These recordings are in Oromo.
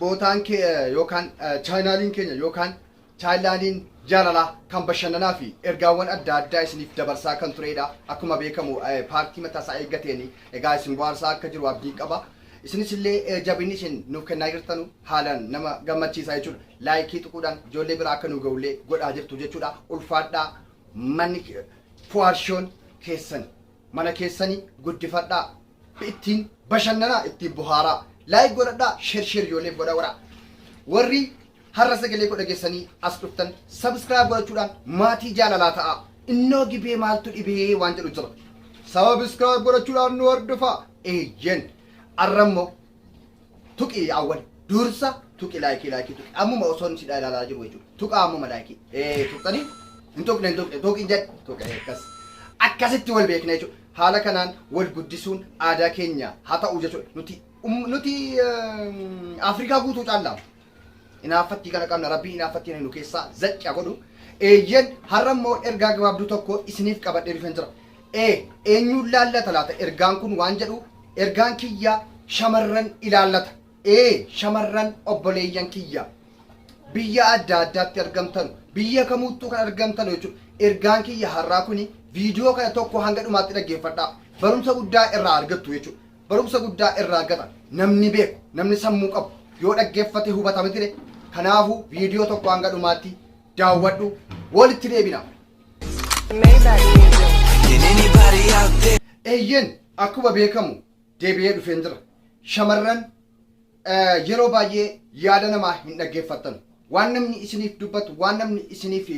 Bootaan ke yookaan chaayinaaliin keenya yookaan chaayinlaaniin jaalalaa kan bashannanaa fi ergaawwan adda addaa isiniif dabarsaa kan tureedha. Akkuma beekamu paartii mataa isaa eeggateen egaa isin bohaarsaa akka jiru abdiin qaba. Isinis illee jabinni isin nuuf kennaa jirtanu haalaan nama gammachiisa jechuudha. Laayikii tuquudhaan ijoollee biraa akka nu ga'ullee godhaa jirtu jechuudha. Ulfaadhaa manni Fuwaad Shoon keessan. Mana keessani guddifadhaa. Ittiin bashannanaa ittiin bohaaraa. Like godhadhaa share share ijoollee godha wara. Warri har'a sagalee koo dhageessanii as dhuftan subscribe godhachuudhaan maatii jaalalaa ta'aa. Innoo gibee maaltu dhibee waan jedhu jira. Subscribe godhachuudhaan nu hordofaa. Eeyyen. Arrammoo tuqi awwal dursa tuqi laayikii laayikii tuqi ammuma osoon sidhaa ilaalaa jiru jechuudha tuqa ammuma laayikii ee tuqxanii hin tuqne hin tuqne tuqin jedhe tuqe akkas akkasitti wal beekna jechuudha haala kanaan wal guddisuun aadaa keenya haa ta'u jechuudha nuti um- nuti ehm, afrikaa guutuu caallaam Inaaffattii kana qabna rabbiin inaaffattii kana nu keessaa zacci haa godhu. Eeyyen har'a immoo ergaa gabaabduu tokko isiniif qabadhee dhufeen jira. Ee eenyuun laallata laata ergaan kun waan jedhu ergaan kiyya shamarran ilaallata. Ee shamarran obboleeyyan kiyya biyya adda addaatti argamtan biyya kamuuttuu kan argamtan jechuudha. Ergaan kiyya har'aa kuni viidiyoo kana tokko hanga dhumaatti dhaggeeffadhaa. Barumsa guddaa irraa argattu jechuudha. barumsa guddaa irraa argata namni beeku namni sammuu qabu yoo dhaggeeffate hubata mitire kanaafu viidiyoo tokko hanga dhumaatti daawwadhu walitti deebina eeyyen akkuma beekamu deebi'ee dhufeen jira shamarran eh, yeroo baay'ee yaada namaa hin dhaggeeffattan waan namni isiniif dubbatu waan namni isiniif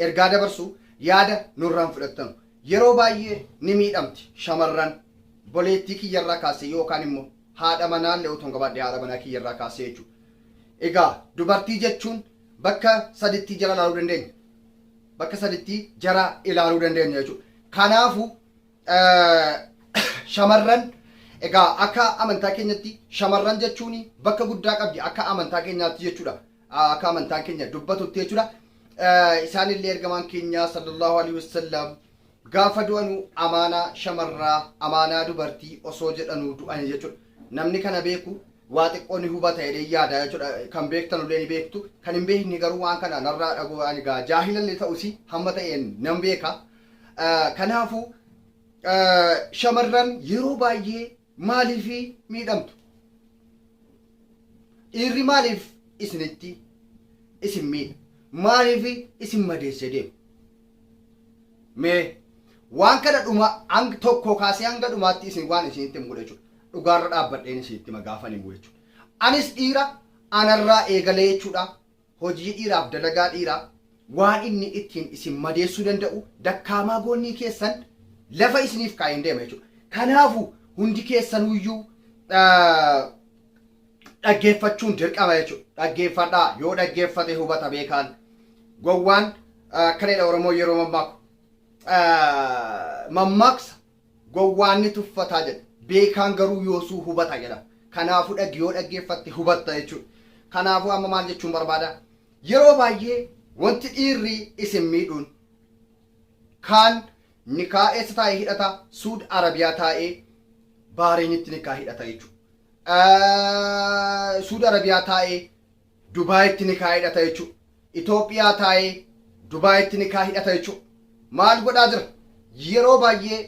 ergaa dabarsu yaada nurraan fudhattan Yeroo baay'ee ni miidhamti shamarran boleettii kiyya irraa kaassee yookaan immoo haadha manaa illee otoon qabaadhee haadha manaa kiyya irraa kaassee jechuudha. Egaa dubartii jechuun bakka sadittii jara ilaaluu dandeenya. Bakka sadittii jara ilaaluu dandeenya jechuudha. Kanaafu shamarran egaa akka amantaa keenyatti shamarran jechuun bakka guddaa qabdi akka amantaa keenyaatti jechuudha. akka amantaan keenya dubbatutti jechuudha. Isaan illee ergamaan keenya sallallahu alaihi wasallam gaafa du'anu amaanaa shamarraa amaanaa dubartii osoo jedhanu du'an jechuudha. Namni kana beeku waa xiqqoo ni hubata jedhee yaada jechuudha. Kan beektan illee ni beektu. Kan hin beekne garuu waan kana narraa dhagoo ani gaa jaahila illee ta'usi hamma ta'een nan beeka. Kanaafuu shamarran yeroo baay'ee maaliif miidhamtu? Dhiirri maaliif isinitti isin miidha? Maaliif isin madeessee deema? Mee waan kana dhuma hang tokkoo kaasee hanga dhumaatti isin waan isinitti himu godha jechuudha. Dhugaarra dhaabbadheen isinitti hima gaafan himu jechuudha. Anis dhiira anarraa eegalee jechuudha. Hojii dhiiraaf dalagaa dhiiraa waan inni ittiin isin madeessuu danda'u dakkaamaa goonnii keessan lafa isiniif kaa'een deema jechuudha. Kanaafu hundi keessanuyyuu dhaggeeffachuun dirqama jechuudha. Dhaggeeffadhaa yoo dhaggeeffate hubata beekaan gowwaan akkana jedha Oromoo yeroo mammaaku mammaaksa Gowwaan ni tuffata jedha, beekaan garuu yoosuu hubata jedha. Kanaafuu dhag yoo dhaggeeffatte hubatta jechuudha. Kanaafuu amma maal jechuun barbaada? Yeroo baay'ee wanti dhiirri isin miidhuun kaan nikaa eessa taa'ee hidhata? Suud Arabiyaa taa'ee Baareenitti nikaa hidhata jechuudha. Suud Arabiyaa taa'ee Dubaayitti nikaa hidhata jechuu Itoophiyaa taa'ee Dubaayitti nikaa hidhata jechuu maal godhaa jira yeroo baay'ee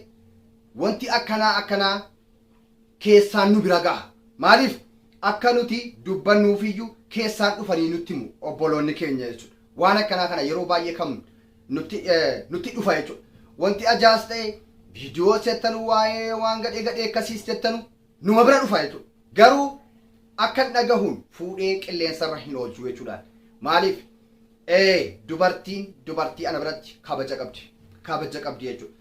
wanti akkanaa akkanaa keessaan nu bira gaha maaliif akka nuti dubbannuufiyyuu keessaan dhufanii nutti himu obboloonni keenya jechuudha waan akkanaa kana yeroo baay'ee kan nutti nutti dhufa jechuudha wanti ajaas ta'e viidiyoo settanu waa'ee waan gadhee gadhee akkasiis jettanu numa bira dhufa jechuudha. Garuu akkan dhagahuun fuudhee qilleensarra hin oolchu jechuudhaan. Maaliif? Ee dubartiin dubartii ana biratti kabaja qabdi. Kabaja qabdi jechuudha.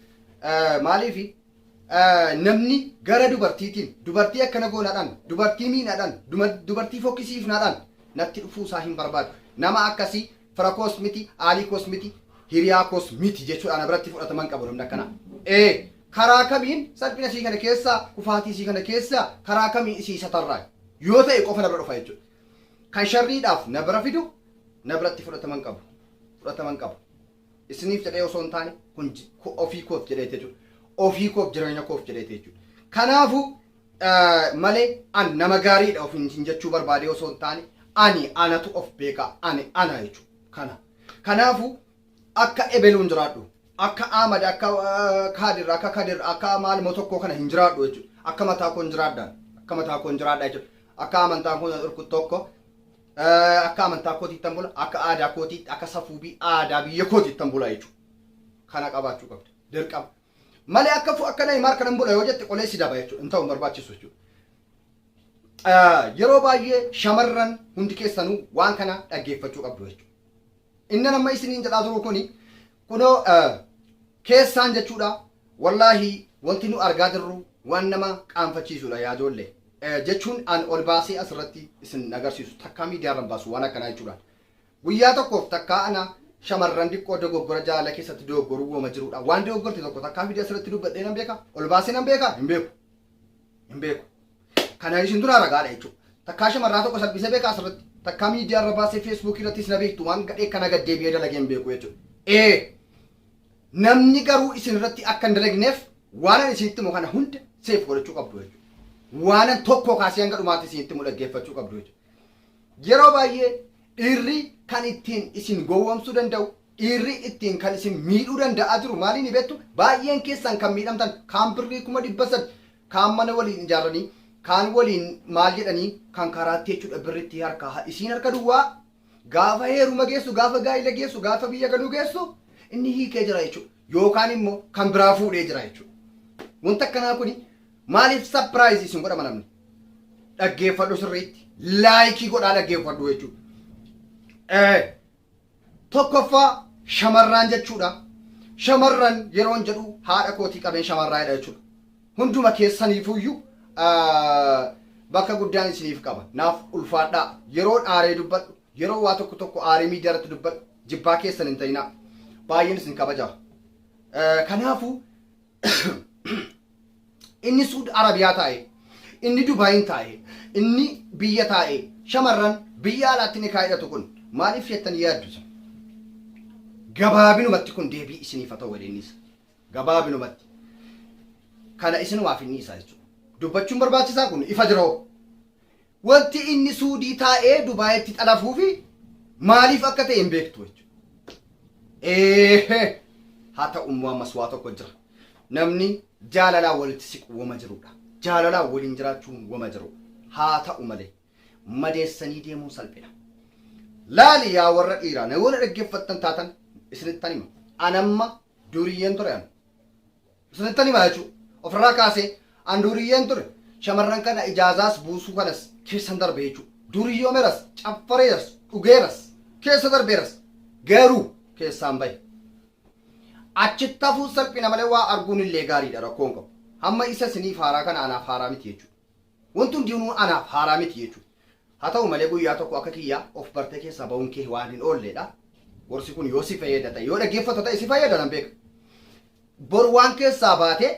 Eh, Maaliif? Eh, Namni gara dubartiitiin dubartii akkana goonaadhaan dubartii miinaadhaan duma- dubartii fokkisiifnaadhaan natti dhufuu isaa hin barbaadu. Nama akkasii fira koos miti, aalii koos miti, hiriyaa koos miti jechuudhaan ana biratti fudhataman qabu namni akkanaa. Ee Karaa kamiin salphina isii kana keessaa, kufaatii isii kana keessaa karaa kamiin isii satarraa? Yoo ta'e qofa na bira dhufa jechuudha. Kan sharriidhaaf na bira fidu na biratti fudhatama hin qabu. Fudhatama hin qabu. Isiniif jedhee osoo hin taane kun ji- ku- ofii koof jedhee jechuudha. Ofii koof jireenya koof jedhee jechuudha. Kanaafuu eh, malee an nama gaariidha ofiin isin jechuu barbaadee osoo hin taane ani anatu of beeka ani ana jechuudha. Kana. Kanaafuu Akka ebeluun jiraadhu. Akka Ahmad akka Kaadir akka Kadir akka maal moo tokkoo kana hin jiraadhu jechuudha. Akka mataa koon jiraadhaan. Akka mataa koon jiraadhaa jechuudha. Akka amantaan koon dhorku tokko akka amantaa kootii ittan bula akka aadaa kootii akka safuu bi aadaa biyya kootii ittan bula jechuudha. Kana qabaachuu qabda. Dirqama. Malee akka fu akka Neymar kanan bula yoo jette qolee si daba jechuudha. Hin ta'u hin barbaachisu jechuudha. Yeroo baay'ee shamarran hundi keessanuu waan kana dhaggeeffachuu qabdu jechuudha. Inni amma isiniin jedhaa turu kuni kunoo keessaan jechuudha. Wallaahi wanti nu argaa jirru waan nama qaanfachiisudha yaa ijoollee. Jechuun an ol baasee asirratti isin agarsiisu takkaa miidiyaarra hin baasu waan akkanaa jechuudha. Guyyaa tokkoof takkaa ana shamarran diqqoo dogoggora jaalala keessatti dogoggoruu woma jirudha. Waan dogoggorte tokko takkaa fidee asirratti dubbadhee nan beeka. Ol baasee nan beeka hin beeku. hin beeku. Kana isin duraa ragaadha jechuudha. Takkaa shamarraa tokko salphisee beekaa asirratti. Takkaa miidiyaa irra baasee feesbuukii irrattis na beektu waan gadhee kana gad deebi'ee dalagee hin beeku jechuudha. Ee namni garuu isin irratti akka hin dalagneef waanan isinitti himu kana hunda seef godhachuu qabdu jechuudha. Waanan tokko kaasee hanga dhumaatti isinitti himu dhaggeeffachuu qabdu jechuudha. Yeroo baay'ee dhiirri kan ittiin isin gowwoomsuu danda'u Dhiirri ittiin kan isin miidhuu danda'aa jiru maali ni beektu? Baay'een keessan kan miidhamtan kaan birrii kuma dhibba sadi, kaan mana waliin ijaarranii, kaan waliin maal jedhanii kan karaatti jechuudha birri itti harkaaha. Isiin harka duwwaa gaafa heeruma geessu, gaafa gaa'ila geessu, gaafa biyya galuu geessu inni hiikee jira jechuudha. Yookaan immoo kan biraa fuudhee jira jechuudha. Wanti akkanaa kuni maaliif sapiraayizi isin godhama namni? Dhaggeeffadhu sirriitti. Laayikii godhaa dhaggeeffadhu jechuudha. Ee Tokkoffaa shamarraan jechuudha. Shamarran yeroon jedhu haadha kootii qabeen shamarraa'edha jechuudha. Hunduma keessaniifuuyyu bakka guddaan isiniif qaba. Naaf ulfaadhaa. Yeroon aaree dubbadhu, yeroo waa tokko tokko aaree miidiyaa irratti dubbadhu jibbaa keessan hin ta'inaa. Baay'een isin kabajaa. Kanaafuu inni suud arabiyaa taa'e inni dubaayin taa'e inni biyya taa'e shamarran biyya alaatti ni kaa'idhatu kun maaliif jettan yaaddu san gabaabinumatti kun deebii isiniif haa ta'u waliinis gabaabinumatti kana isinumaaf inni isaa jechuudha dubbachuun barbaachisaa kun ifa jiroo Wanti inni Suudii taa'ee Dubaayitti xalafuufi maaliif akka ta'e hin beektu jechuudha. Eehee! Haa ta'u immoo ammas waa tokko jira. Namni jaalalaan walitti siqu woma jirudha. Jaalalaan waliin jiraachuun woma jiru. Haa ta'u malee madeessanii deemuun salphina. Laali yaa warra dhiiraa na yoo na dhaggeeffattan taatan isinittan hima. Anamma duriyyeen ture an. Isinittani hima jechuu ofirraa kaasee an duuriyyeen ture shamarran kana ijaazaas buusuu kanas keessan darbe jechuu duuriyyoomeras caffareeras dhugeeras keessa darbeeras garuu keessaan bahe achitti hafuun salphina malee waa arguun illee gaariidha rakkoon qabu hamma isa isinii faaraa kana anaaf haaraa miti jechuu Wanti hundinuu anaaf haaraa miti jechuudha. Haa ta'u malee guyyaa tokko akka kiyyaa of bartee keessaa ba'uun kee waan hin oolleedha. Gorsi kun yoo si fayyada ta'e, yoo dhaggeeffatta ta'e si fayyada nan beeka. Bor waan keessaa baate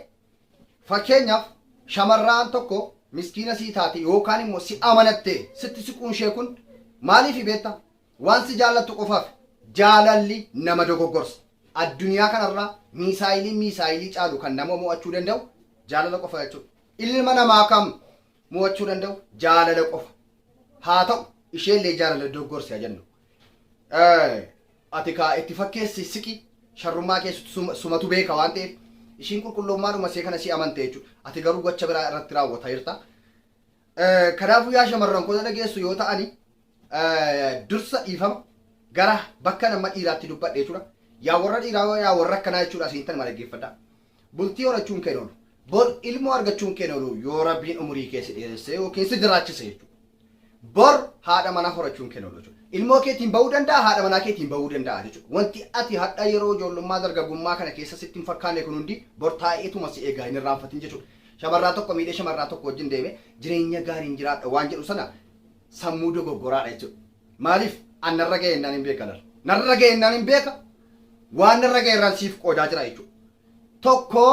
fakkeenyaaf shamarraan tokko miskiina sii taate yookaan immoo si amanattee sitti siquun ishee kun maaliifi beekta? Waan si jaallattu qofaaf. Jaalalli nama dogoggorsa. Addunyaa kanarraa miisaayiliin miisaayilii caalu kan nama mo'achuu danda'u jaalala qofa jechuudha. Ilma namaa kam mo'achuu danda'u? Jaalala qofa. Haa ta'u isheellee jaalala dogoggorsi haa jennu. Ati kaa itti fakkeessi siqi sharrummaa keessatti suma- sumatu beeka waan ta'eef ishiin qulqulloommaadhuma isee kana si amante jechuudha. Ati garuu gocha biraa irratti raawwataa jirta. Eh, Kanaafuu yaa shamarran koo dhageessu yoo ta'ani eh, dursa dhiifama gara bakka nama dhiiraatti dubbadhe jechuudha. Yaa warra dhiiraa yaa warra akkanaa jechuudha isin tan dhaggeeffadha. Bultii horachuun kee hin oolu. Bor ilmoo argachuun kee hin oolu yoo rabbiin umurii kee si dheeressee yookiin si jiraachise jechuudha. Bor haadha manaa horachuun kee hin oolu jechuudha. Ilmoo keetiin bahuu danda'a, haadha manaa keetiin bahuu danda'a jechuudha. Wanti ati hadha yeroo ijoollummaa dargagummaa kana keessa sitti hin fakkaanne kun hundi bor taa'eetuma si eegaa hin irraanfatin jechuudha. Shamarraa tokko miidhee shamarraa tokko wajjin deeme jireenya gaariin jiraadha waan jedhu sana sammuu dogoggoraadha jechuudha. Maaliif an narra ga'e innaan hin beeka laal. Narra ga'e innaan hin beeka waan narra ga'e irraan siif qoodaa jira jechuudha. Tokko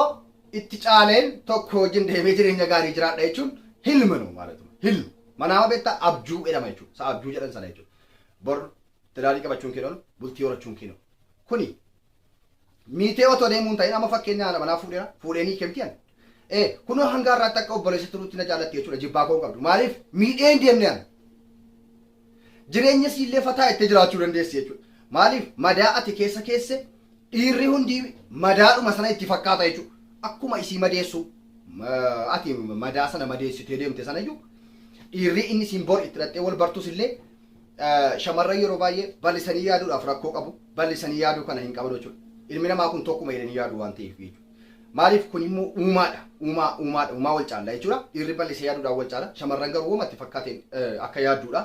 itti caaleen tokko wajjin deemee jireenya gaarii jiraadha jechuun hilma nu maalatu hilma. Manaama beektaa abjuu jedhama jechuudha. Isa abjuu jedhan sana jechuudha. Bor tilaarii qabachuun kee hin oolu bultii horachuun kee hin oolu. Kuni Miitee otoo deemuu hin ta'in amma fakkeenya haadha manaa fuudheera fuudhee ni kemti an. Ee kunoo hanga har'aatti akka obboleessa turuutti na jaallatti jechuudha jibbaa koo hin qabdu maaliif miidhee hin deemne an. Jireenya siillee fataa itti jiraachuu dandeessi jechuudha. Maaliif madaa ati keessa keesse dhiirri hundi madaadhuma sana itti fakkaata jechuudha. Akkuma isii madeessuu ma- ati madaa sana madeessitee deemte sana iyyuu dhiirri inni siin bor itti dhaxxee wal bartus illee Shamarran yeroo baay'ee bal'isanii yaaduudhaaf rakkoo qabu. Bal'isanii yaaduu kana hin qabanu jechuudha. Ilmi namaa kun tokkuma jedhanii yaadu waan ta'eef jechuudha. Maaliif kun immoo uumaadha. Uumaa uumaadha. Uumaa wal caalla jechuudha. Dhiirri bal'isee yaaduudhaan wal caala. Shamarran garuu wamatti fakkaateen akka yaadduudha.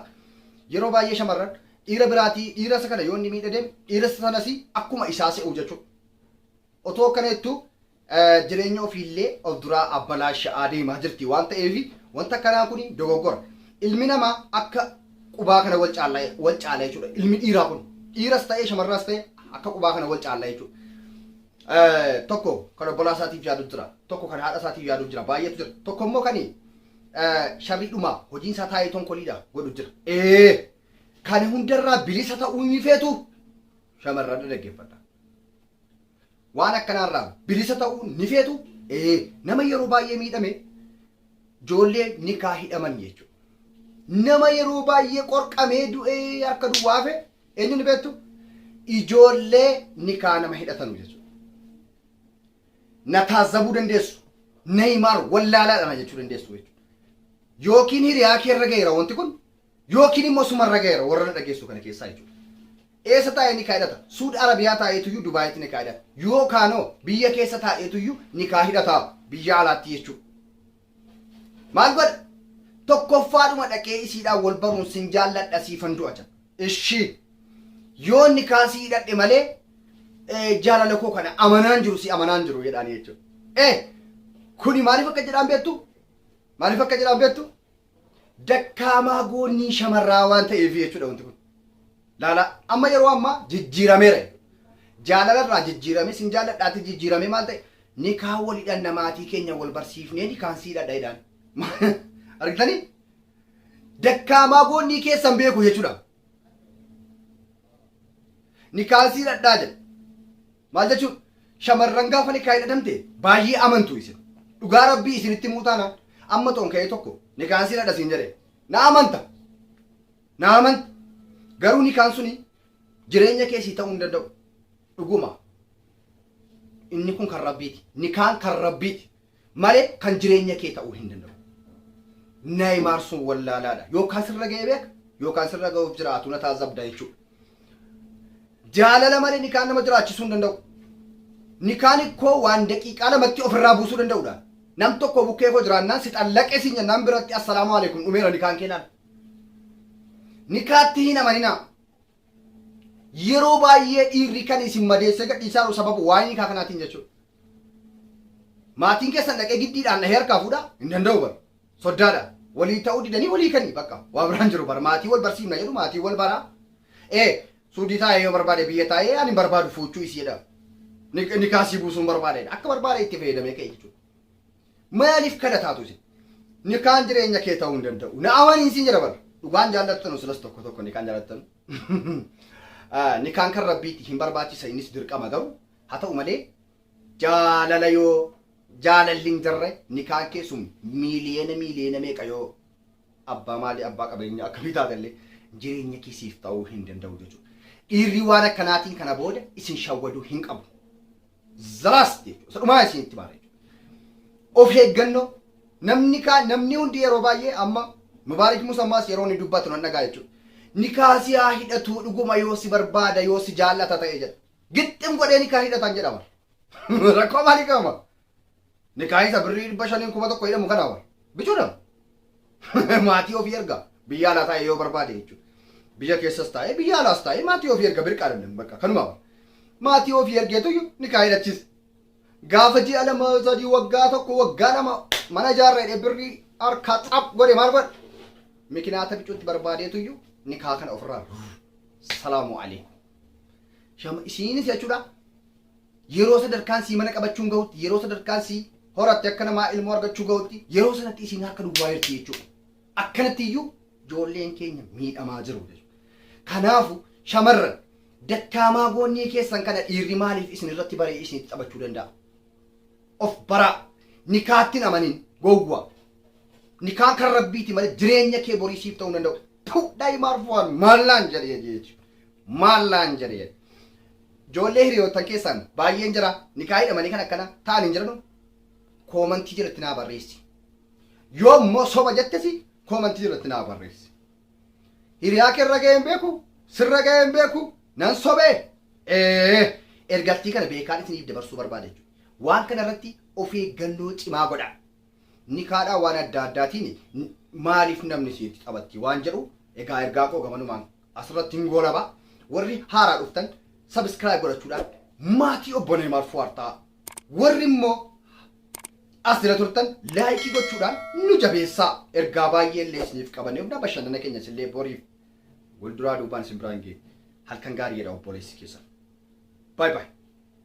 Yeroo baay'ee shamarran dhiira biraatii dhiira isa kana yoo inni miidha deeme dhiira sanas akkuma isaa se'u jechuudha. Otoo akkana jettuu jireenya ofiillee of duraa abbalaasha'aa deemaa jirti waan ta'eef wanta akkanaa kun dogoggora. Ilmi namaa akka qubaa kana wal caalla wal caala jechuudha. Ilmi dhiiraa kun dhiiras ta'ee shamarraas ta'ee akka qubaa kana wal caalla jechuudha. Eh, Tokko kan obbolaa isaatiif yaadu jira. Tokko kan haadha isaatiif yaadu jira. Baay'eetu jira. Tokko immoo kan sharrii dhumaa hojiin isaa taa'ee tonkoliidha godhu jira. Ee kana hundarraa bilisa ta'uu ni feetu shamarran dhaggeeffadha. Waan akkanaa irraa bilisa ta'uu ni feetu? Ee, nama yeroo baay'ee miidhame ijoollee nikaa hidhaman jechuudha. Nama yeroo baay'ee qorqamee du'ee harka duwwaa hafe eenyu ni beektu? Ijoollee nikaa nama hidhatanu jechuudha. Na taazzabuu dandeessu. Neeymaar wallaalaadha na jechuu dandeessu jechuudha. Yookiin hiriyaa kee irra ga'eera wanti kun Yookiin immoo suma irra gaheera warra na dhageessisu kana keessaa jechuudha. Eessa taa'ee nikaa hidhata? Suud Arabiyaa taa'eetuyyuu Dubaayitti nikaa hidhata. Yookaanoo biyya keessa taa'eetuyyuu nikaa hidhata biyya alaatti jechuudha. Maal godha? Tokkoffaadhuma dhaqee isiidhaan wal baruun sin jaalladha siifan du'a jedha. Ishii yoo nikaa si hidhadhe malee eh, jaalala koo kana amanaan jiru si amanaan jiru jedhaanii jechuudha. Eh, kuni maaliif akka jedhaan beektu? Maaliif akka jedhaan beektu? dakkaamaa goonnii shamarraa waan ta'eefi jechuudha wanti kun. Laalaa amma yeroo ammaa jijjiirameera. Jaalala irraa jijjiirame sin jaalladhaati jijjiirame maal ta'e nikaa wal hidhanna maatii keenya wal barsiifnee nikaan sii dhadha jedhaan. Argitanii? Dakkaamaa goonnii keessan beeku jechuudha. Nikaan sii dhadhaa jedha. Maal jechuudha? Shamarran gaafa nikaahin adamte baay'ee amantu isin. Dhugaa rabbii isinitti himuu taanaan amma toon ka'ee tokko nikaan siin adha siin jedhe na amanta. Na amanta. Garuu nikaan suni jireenya kee sii ta'uu hin danda'u. Dhuguma. Inni kun kan rabbiiti. Nikaan kan rabbiiti. malee kan jireenya kee ta'uu hin danda'u. Neeymaar sun wallaalaadha. Yookaan sirra ga'ee beeka yookaan sirra ga'uuf jiraatu na taasisabda jechuudha. Jaalala malee nikaan nama jiraachisuu hin danda'u. Nikaan ikkoo waan daqiiqaa lamatti ofirraa buusuu danda'udha. Nam tokko bukkee koo jiraannaan si xallaqee siin jennaan biratti assalaamu alaikum dhumeera nikaan kee laal. Nikaatti hin amaninaa. Yeroo baay'ee dhiirri kan isin madeessee gadhiisaaru sababa waa'ee nikaa kanaatiin jechuudha. Maatiin keessan dhaqee giddiidhaan dhahee harkaa fuudha hin danda'u bar. Soddaadha. Walii ta'uu didanii walii kanii bakka waa biraan jiru bar. Maatii wal barsiifna jedhu maatii wal baraa. Ee suudii taa'ee yoo barbaade biyya taa'ee ani hin barbaadu fuuchuu isi jedha. Nik- Nikaa sii buusuun barbaada jedha. Akka barbaade itti fayyadamee ka'e jechuudha. Maalif kadhataatu isin? Nikaan jireenya kee ta'uu hin danda'u. Na amaniin siin jedha bara. Dhugaan jaallattanu silas tokko tokko nikaan jaallattanu. Ah, Nikaan kan rabbiiti hin barbaachisa innis dirqama garuu haa ta'u malee jaalala yoo jaalalli hin jirre nikaan kee sun miiliyeena miiliyeena meeqa yoo abbaa maalii abbaa qabeenya akkamii taatellee jireenya kee siif ta'uu hin danda'u jechuudha. Dhiirri waan akkanaatiin kana booda isin shawwaduu hin qabu. the last jechuudha. Isa dhumaa isin itti maara jechuudha. Of eeggannoo namni kaa namni hundi yeroo baay'ee amma Mubaarik Musa ammaas yeroo inni dubbatu nan dhagaa jechuudha. Nikaa si haa hidhatuu dhuguma yoo si barbaada yoo si jaallata ta'e jedha. Gixxim godhee nikaa hidhatan jedhama. Rakkoo maalii qabama? Nikaahisa birrii dhibba shaniin kuma tokko jedhamu kana wal. Bichuudha. Maatii ofii erga. Biyya alaa taa'ee yoo barbaade jechuudha. Biyya keessas taa'ee biyya alaas taa'ee maatii ofii erga birqaa dhabne bakka kanuma wal. Maatii ofii ergeetuyyu nikaa hidhachiisa. Gaafa ji'a lama sadii waggaa tokko waggaa lama mana ijaarra jedhee birrii harkaa xaap godhe maal godhe? Mikinaata bicuutti barbaadeetuyyu nikaa kana ofirraa salaamu alaikum. Shama isiinis jechuudha Yeroo sadarkaan sii mana qabachuun gahutti, yeroo sadarkaan sii horatte akka namaa ilmoo argachuu gahutti, yeroo sanatti isiin harka duwwaa jirti jechuudha. Akkanatti iyyuu ijoolleen keenya miidhamaa jiru jechuudha. Kanaafu shamarran dakkaamaa goonnii keessan kana dhiirri maaliif isin irratti baree isinitti taphachuu danda'a? Of baraa. Nikaatti hin amanin. Gowwa. Nikaan kan rabbiiti malee jireenya kee borii siif ta'uu hin danda'u. Tuu daa'imaa arfuwaan maal naan jedhe jechuudha. Maal naan jedhe jedhe. Joollee hiriyoottan keessaan baayyeen jara nikaa hidhamanii kan akkana ta'an hin jiranu? Koomantii jalatti naa barreessi. Yoo immoo soba jettesi koomantii jalatti naa barreessi. Hiriyaa kee irra ga'een beeku sirra ga'een beeku nan sobee ee ergattii kana beekaan isiniif dabarsuu barbaada jechuudha. Waan kana irratti of eeggannoo cimaa godha. Nikaadhaa waan adda addaatiin maaliif namni isinitti taphatti waan jedhu egaa ergaa koo gamanumaan asirratti hin goolaba warri haaraa dhuftan sabiskiraayib godhachuudhaan maatii obbo Neemaar Fuwaar ta'a. Warri immoo as jala turtan laayikii gochuudhaan nu jabeessaa ergaa baay'ee illee isiniif qabannee humna bashannana keenya isillee boriif walduraa duubaan isin biraan geenye halkan gaarii jedha obboleessi keessan. Baay baay.